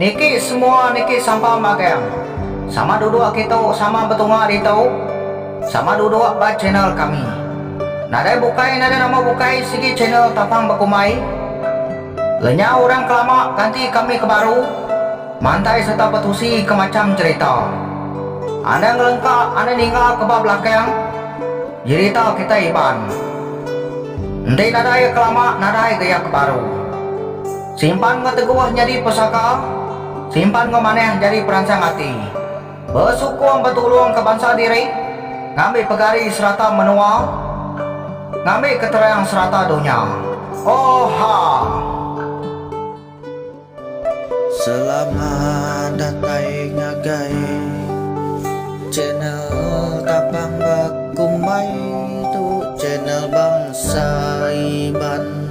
Niki semua niki sampam magang. Sama duduk kitu sama betunga ditu. Sama duduk ba channel kami. Nadai bukai nadai nama bukai sigi channel tapang bekumbai. Lenyau orang ke lama ganti kami ke baru mantai serta betusi ke macham cherita. Anda ngelengka anda ninga ke ba belakang jerita kitai Iban. Enti nadai ke lama nadai ga iya ke baru. Simpan enggau teguh nyadi pesaka, simpan enggau manah nyadi peransang ati. Besukung betulungka bansa diri, ngambi pegari serata menua, ngambi keterang serata dunya. Oha! Selamat datai ngagai channel tapang bakumbai tu channel bangsa iban.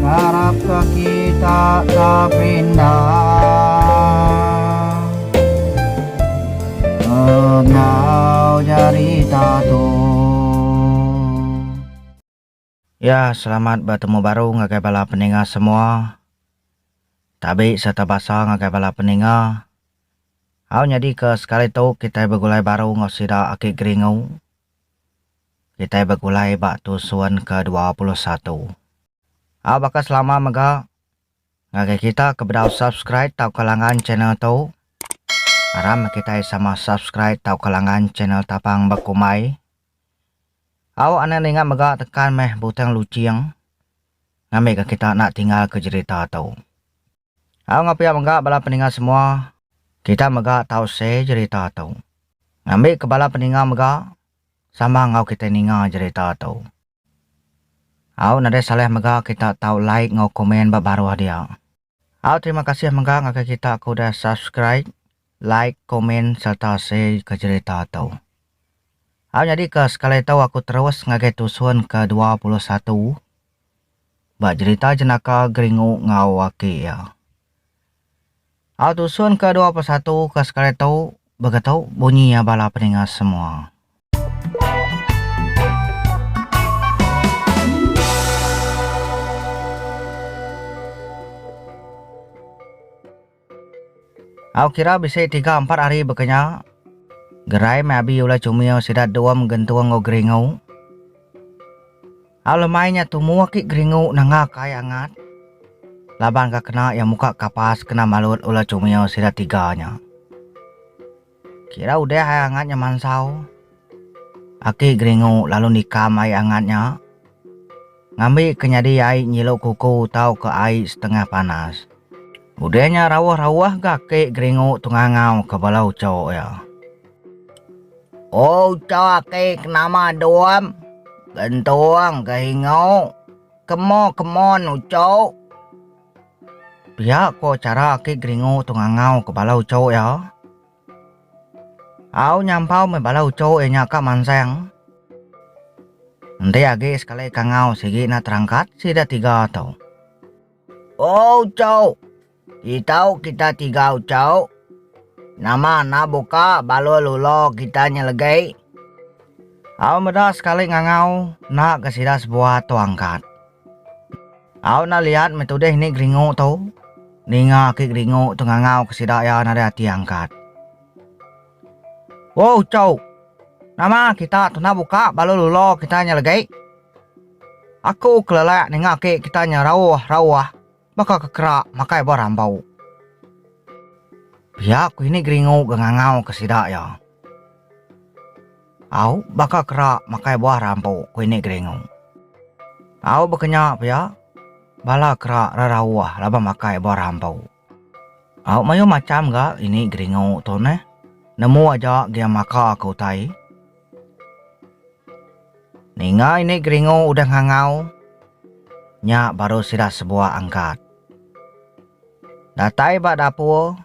Ngarap ka kita ka pindah Enggau jari tatu. Ya selamat betemu baru ngagai bala peninga semua tabi serta basa ngagai bala peninga au nyadi ke sekali tu kitai begulai baru enggau sida aki geringu. kitai begulai ba tusun ke dua puluh satu. A baka selama mega ngagai kita ke bedau subscribe tauka langgan channel tu. Aram kitai sama subscribe tauka langgan channel Tapang Bekumbai. Au ane ninga mega tekan meh butang luching ngambika kita enda tinggalka jerita tu. Au enggau pia mega bala peninga semua, kita mega tau share jerita tu. Ngambika bala peninga mega sama enggau kita ninga jerita tu. Au nadai salah mega kita tau like enggau komen ba baruh dia. Au terima kasih mega ngagai kita ke udah subscribe, like, komen sereta share ke jerita tu. Au nyadika sekali tu aku terus ngagai tusun ke dua puluh satu. ba jerita jenaka Geringu enggau aki iya. Au tusun ke dua persatu ke sekali tu begetu bunyi iya bala peninga semua. Au kira bisi tiga ampat hari bekenya, gerai meh abi ulai chumio sida dom gentung enggau geringu. Au lemai nya tumu aki geringu nanga ka ai angat laban ka kena iya muka kapas kena malut ulai chumio sida tiga nya. Kira udah ai angat nya mansau. Aki Geringu lalu nikam ai angat nya, ngambika nyadi ai nyilu kuku tauka ai setengah panas. Udah nya rauh-rauh ga Aki Geringu tu ngangauka bala ucho iya. O ucho aki ke nama Dum, Gentung, Geringu, kemo kemon ucho. Pia ko chara aki Geringu tu ngangau ke bala ucho iya. Au nyampau meh bala ucho iya nya ka mansang. Enti agi sekali kangau sigi enda terangkat sida tiga tu. Oh ucho, itau kita tiga ucho, nama enda buka baloi lulo kita nya legi? Au meda sekali ngangau enda ke sida sebuah tu angkat. Au na liat meh tudih ni geringu tu. Ninga aki geringu tu ngangau ke sida iya nadai ati angkat. Wo uchouk. Nama kita tu enda buka balu lulo kita nya legi. Aku kelelak ninga aki kita nya rauh-rauh. Baka ke kerak makai ba rambau. Pia ku ini geringu ga ngangau ke sida iya. Au baka kerak makai buah rambu ku ini geringu. Au baka nya pia bala kerak rerauh laban makai buah rambau. Au mayuh macham ga ini geringu tu neh. Nemu aja gia maka ke utai. Ninga ini geringu udah ngangau, nya baru sida sebuah angkat. Datai ba dapur,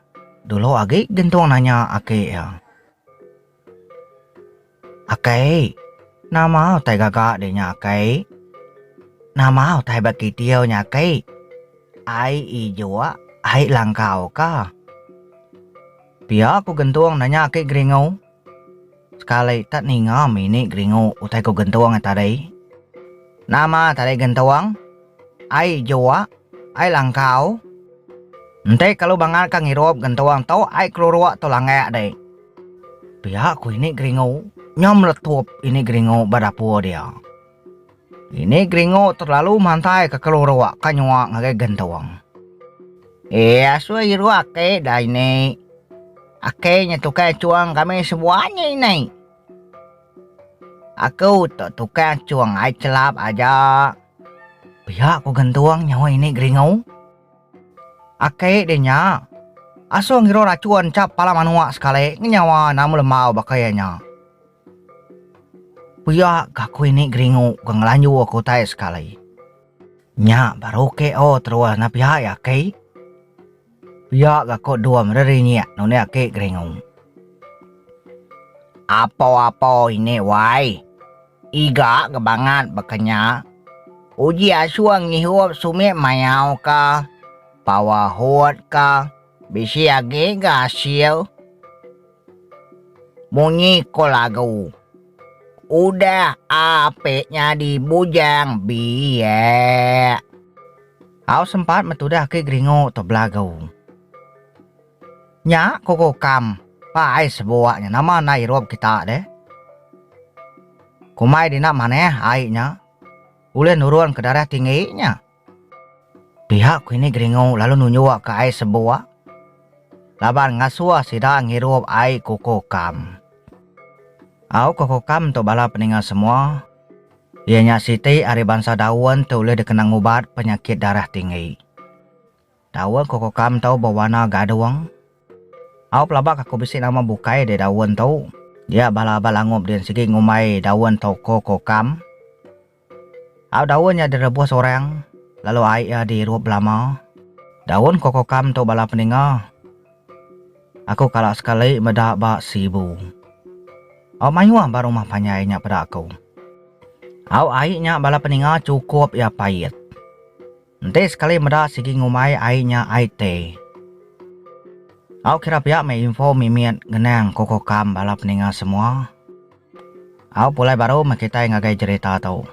dulu agi Gentung nanya aki iya. Aki, nama utai gaga dih nya aki? Nama utai ba kitiu nya aki? Ai ijuk, ai langkau kah? Pia ku Gentung nanya aki geringu. Sekali tak ninga mini geringu utai ko gentung ai tadi. Nama tadi gentung? Ai juak? Ai langkau? Enti kalu bangat ka ngirup gentung tu ai keluruk tu langak dik. Pia ko ini geringu nyau meletup ini geringu ba dapur dia. Ini Gringo terlalu mantai ke kelu rua ka nyua ngagai gentung. Eh asui iru ake da ini. Ake nya tukang achung kami sebua nya ini. Aku tu tukang achung ai chelap aja. Pia ku gentung nyawa ini Gringo. Ake deh nya. Asung iru rachun chap pala manua sekali ngenyawa nama lembau baka iya nya. Pia ke aku ini geringu ke ngelanju aku utai sekali. Nya baru ke o terus na pia ya aki. Pia ke aku dua meri rinyek nuni aki geringu. Apo apo ini wai. Iga ke bangat baka nya. Uji asung ngihup sumit mayau ka, pawa hut ka, bisi agi ga asil. Munyi ko lagu. Udah ape nyadi bujang biak. Au sempat metudah agi geringu tu belagu. Nya ko kokam pa ai sebuak nya nama enda irup kita deh. Kumai dina manah ai nya ulih nurun ke darah tinggi nya. Pihak Klinik Geringu lalu nunjukka ai sebuah laban ngasuh sida ngirup ai kuku kam. Au kuku kam tu bala peninga semua, iya nya siti ari bansa daun ti ulih dikena ngubat penyakit darah tinggi. Daun kuku kam tu bewarna gadung. Au pelaba kaku bisi nama bukai deh daun tu. Dia bala abai langup din sigi ngumbai daun tu kuku kam. Au daun nya direbus orang, lalu ai iya diirup belama. Daun kokokam tu bala peninga. Aku kala sekali meda ba Sibu. Au mayuh ba rumah panjai nya peda aku. Au ai nya bala peninga chukup iya pait. Enti sekali meda sigi ngumbai ai nya ai te. Au kira pia meh info mimit ngenang kukuh kam bala peninga semua. Au pulai baru meh kitai ngagai jerita tu.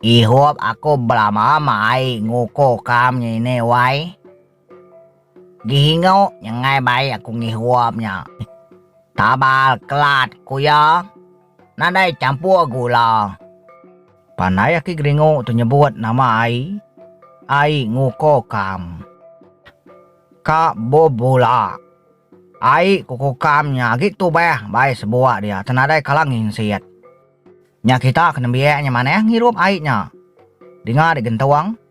Ihup aku belama meh ai ngukuh kam nya ini wai. Dihingu nyengai bai aku ngihup nya. Tabal kelat ku iya nadai champur gula. Pandai aki Geringu tu nyebut nama ai, ai nguko kam. Ka bebula. Ai kuko kam nya agi tubah bai sebuak dia tenadai kala nginsit. Nya kita ke nembiak nya manah ngirup ai nya. Dinga digentung.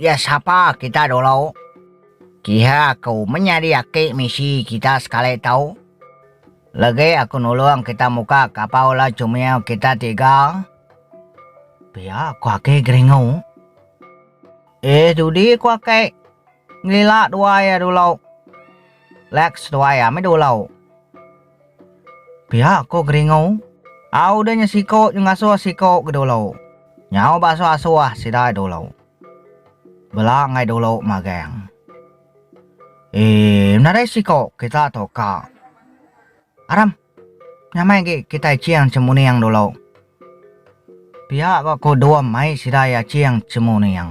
Iya sapa kita dulu? Kiha aku menyadi aki misi kita sekali tau. Legi aku nulung kita muka kapa ulah cumiu kita tiga. Pia ku aki Geringu. Eh dudi ku aki. Ngelila dua iya dulu. Lex tuai ami dulu. Pia ko Geringu. Au udah nya siko nyu ngasuh siko ke dulu. Nyau ba asuh asuh sida dulu. Bela ngai dulu magang. Eee nadai siko kita tu ka. Aram. Nyamai agi kitai ching chemuning dulu. Pia ko Dum mai sida iya ching chemuning.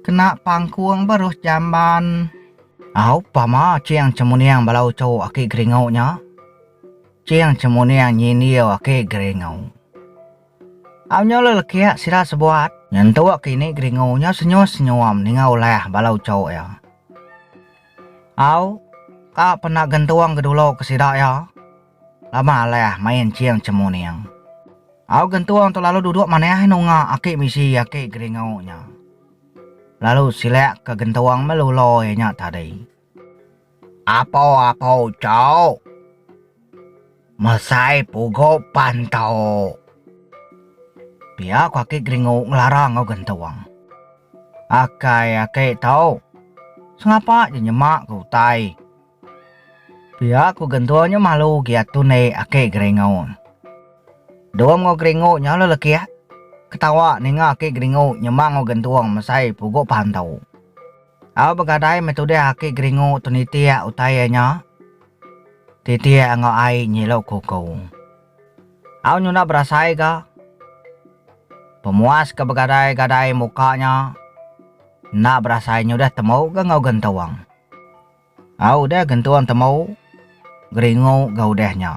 Kena pangkung beruh jamban. Au pama ching chemuning bala uchu aki geringu nya. Ching chemuning nyindir aki geringu. Au nya le lekik sida sebuat. Nyentuk ke ini geringu nya senyuh senyum ninga ulah bala uchu iya. Au ka pena gentung ke dulu ke sida iya. Lama alai main ching chemuning. Au gentung tu lalu duduk manah nunga aki misi aki geringu nya. Lalu silak ke gentung meluloi iya nya tadi. Apo apo cok. Mesai pugu pan tok. Pia ko aki geringu ngelara enggau gentung. Akai aki tok. Sengapa je nyema ke utai. Pia ku gentur nyu malu gia tu nai aki geringu. Dua mengu geringu nya la lekih ketawa ninga aki geringu nyema engu gentur mesai pugu pantu. Au begadai meh tudah aki geringu tu nitih utai iya nya titih enggau ai nyilu kuku. Au nyunak berasai ga pemuas ke begadai gadai muka nya enda berasai nyudah temu ga enggau gentur. A udah gentung temu Geringu ga udah nya.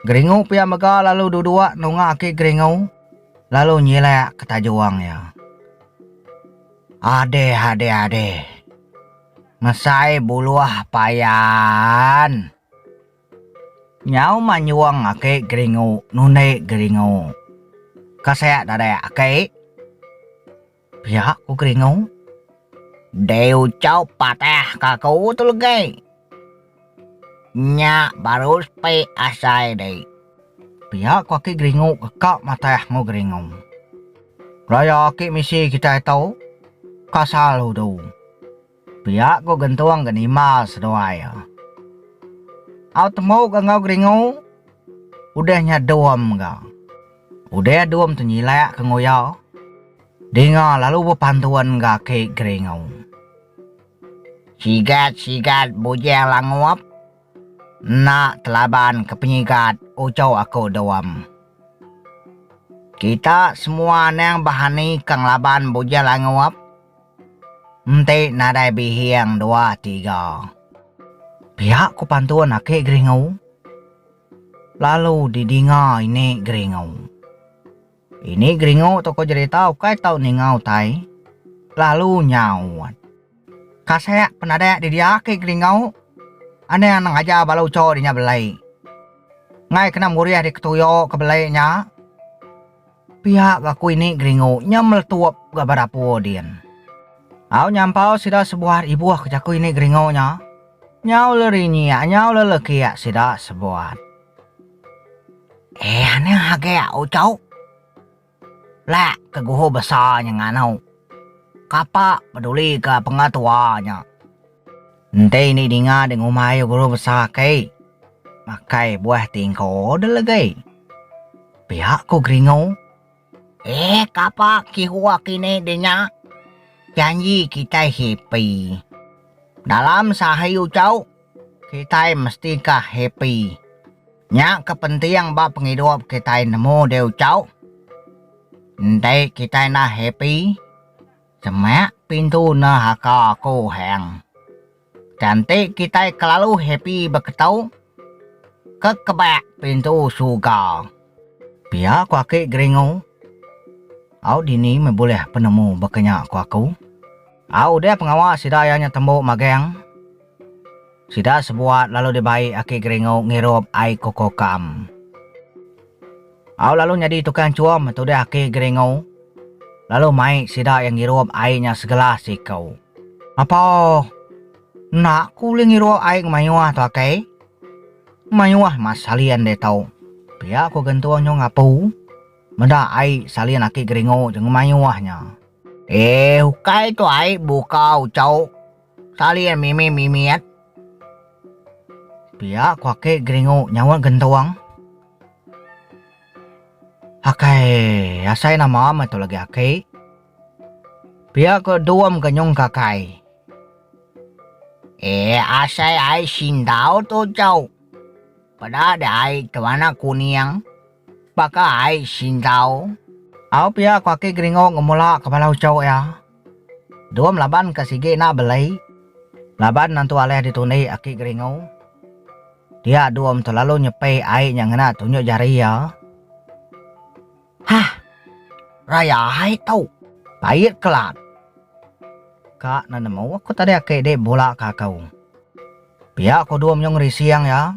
Geringu pia mega lalu dudua nunga aki Geringu lalu nyilak ke tajung iya. Adeh adeh adeh. Mesai buluh payan. Nyau manyung aki Geringu nundi Geringu. Kasek dadak aki. Pia ku Keringu. Dei ucau patah ka aku tu legai. Nya baru sepi asai dei. Pia ku aki Geringu keka matah engu Geringu. Raya aki misi kitai tu ka salu tu. Pia ku gentung ke nima seduai iya. Au temu ga enggau Geringu, udah nya Dum ga. Udah Dum tu nyilak ke enggau iya, Dinga lalu bepantun ga aki Geringu. Sigat sigat bujang langup, enda telaban ke penyigat uchu aku Dum. Kita semua anang bahani ka ngelaban bujang langup. Enti nadai bihing dua tiga. Pia ku pantun ake Geringu. Lalu di dinga ini Geringu. Ini Geringu toko jerita ukai tau ninga utai. Lalu nyaut. Kasek penadak di dia ake Geringu. Anang anang aja bala ucho di nya belai. Ngai kena murih di ketuyo ke belai nya. Pia aku ini geringu nya meletup ga ba dapur din. Au nyampau sida sebuat ibuh ke jaku ini geringu nya. Nyau le rinyik nyau le lekik sida sebuat. Ih ane age ucok. Lek ke guhu besa nya nganu. Kapa peduli ga pengetua nya. Enti indi dinga dek ngumbai ayu guru besa aki makai buah ti engko order legi. Pia ku geringu. Eh kapa kihu aki ni denya janji kitai happy. Dalam seahi uchu kitai mesti ka happy. Nya ke penting ba pengidup kitai nemu dek uchu. Enti kitai enda happy. Semak pintu enda haka aku hang. Tan ti kitai kelalu happy beketu ke kebak pintu surga. Pia ku aki Geringu. Au dini meh bulih penemu baka nya ku aku. Au udah pengawa sida iya nya tembu magang. Sida sebuat lalu dibai Aki Geringu ngirup ai kuko kam. Au lalu nyadi tukang chum, tudah Aki Geringu. Lalu mai sida iya ngirup ai nya segelas siku. Apaoh. Enda ku ulih ngirup ai ngemayuh tu Aki. Ngemayuh mas salin ditu. Pia ku Gentung nyung apu. Meda ai salin Aki Geringu je ngemayuh nya. Eh ukai tu ai buka uchu. Talir mimi mimiat. Pia ku aki geringu nyaut gentung. Akai asai nama meh tu lagi aki. Pia ku Dum ke nyungka kai. Eh asai ai sindau tu jau. Peda deh ai tu anak kuning. Baka ai singgau. Au pia ko aki Geringo ngemula ka bala uchu iya. Dum laban ka sigi enda belei. Laban nentu alih ditundi aki Geringo. Dia Dum tu lalu nyepi ai nya ngena tunjuk jari iya. Hah. Raya ai tu. Pait kelat. Ka enda nemu aku tadi aki dik bula ka aku. Pia ko Dum nyau ngerising iya.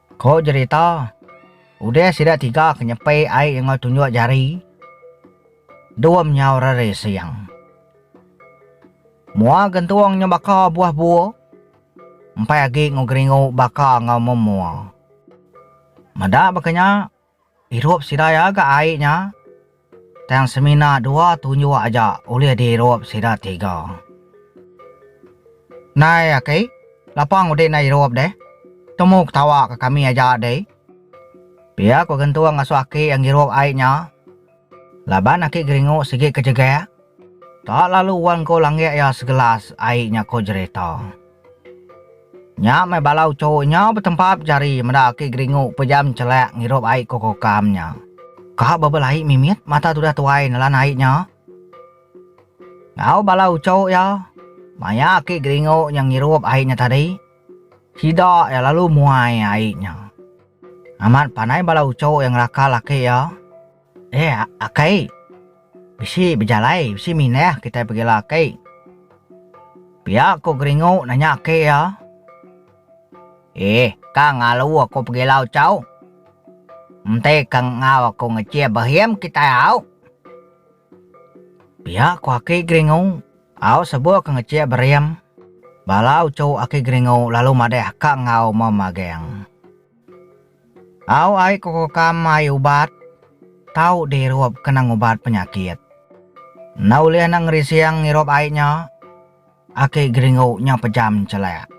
Ko jerita, udah sida tiga ke nyepi ai enggau tunjuk jari, dua menyau reri sing. Mua gentung nya baka buah bua, empai agi enggau geringu baka enggau memua. Meda baka nya, Irup sida iya ga ai nya, tang semina dua tunjuk aja ulih diirup sida tiga. Nai aki, lapang udik enda irup deh. Temu ketawa ka kami aja deh. Pia ku Gentung ngasuh aki iya ngirup ai nya, Laban aki Geringu sigi ke jegak, tak lalu wang ko langgik iya segelas ai nya ko jerita. Nya meh bala uchu nya betempap jari meda aki Geringu pejam chelak ngirup ai ko kokam nya. Ka bebelai mimit mata tudah tuai nelan ai nya. Enggau bala uchu iya, maya aki Geringu nya ngirup ai nya tadi, Sida iya lalu muai ai nya. Amat panai bala uchu iya ngelakar laki iya, Eh, aki, bisi bejalai, bisi mindah kitai pegila, aki. Pia ku Geringu nanya aki iya. Eh, ka ngalu aku pegila uchu. Enti ka enggau aku ngejih behim kitai au. Pia ku Aki Geringu, au sebok ke ngecik Berim. Bala uchu Aki Geringu lalu madah ka enggau Memagang. Au ai ke kokam ai ubat, tau di irup kena ngubat penyakit. Enda ulih enda ngerising ngirup ai nya, Aki Geringu nya pejam nchelak.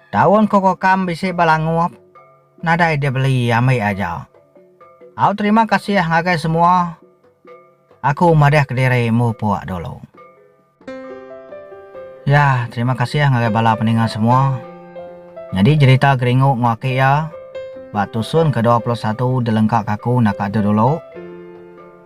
Daun kokokam bisi ba langup, nadai dibeli ambi aja. Au terima kasih ngagai semua, aku madeh kediri mupuk dulu. Ya, terima kasih ngagai bala peninga semua. Nyadi jerita Geringu Nguaki iya ba tusun ke dua puluh satu dilengkaka aku naka tu dulu.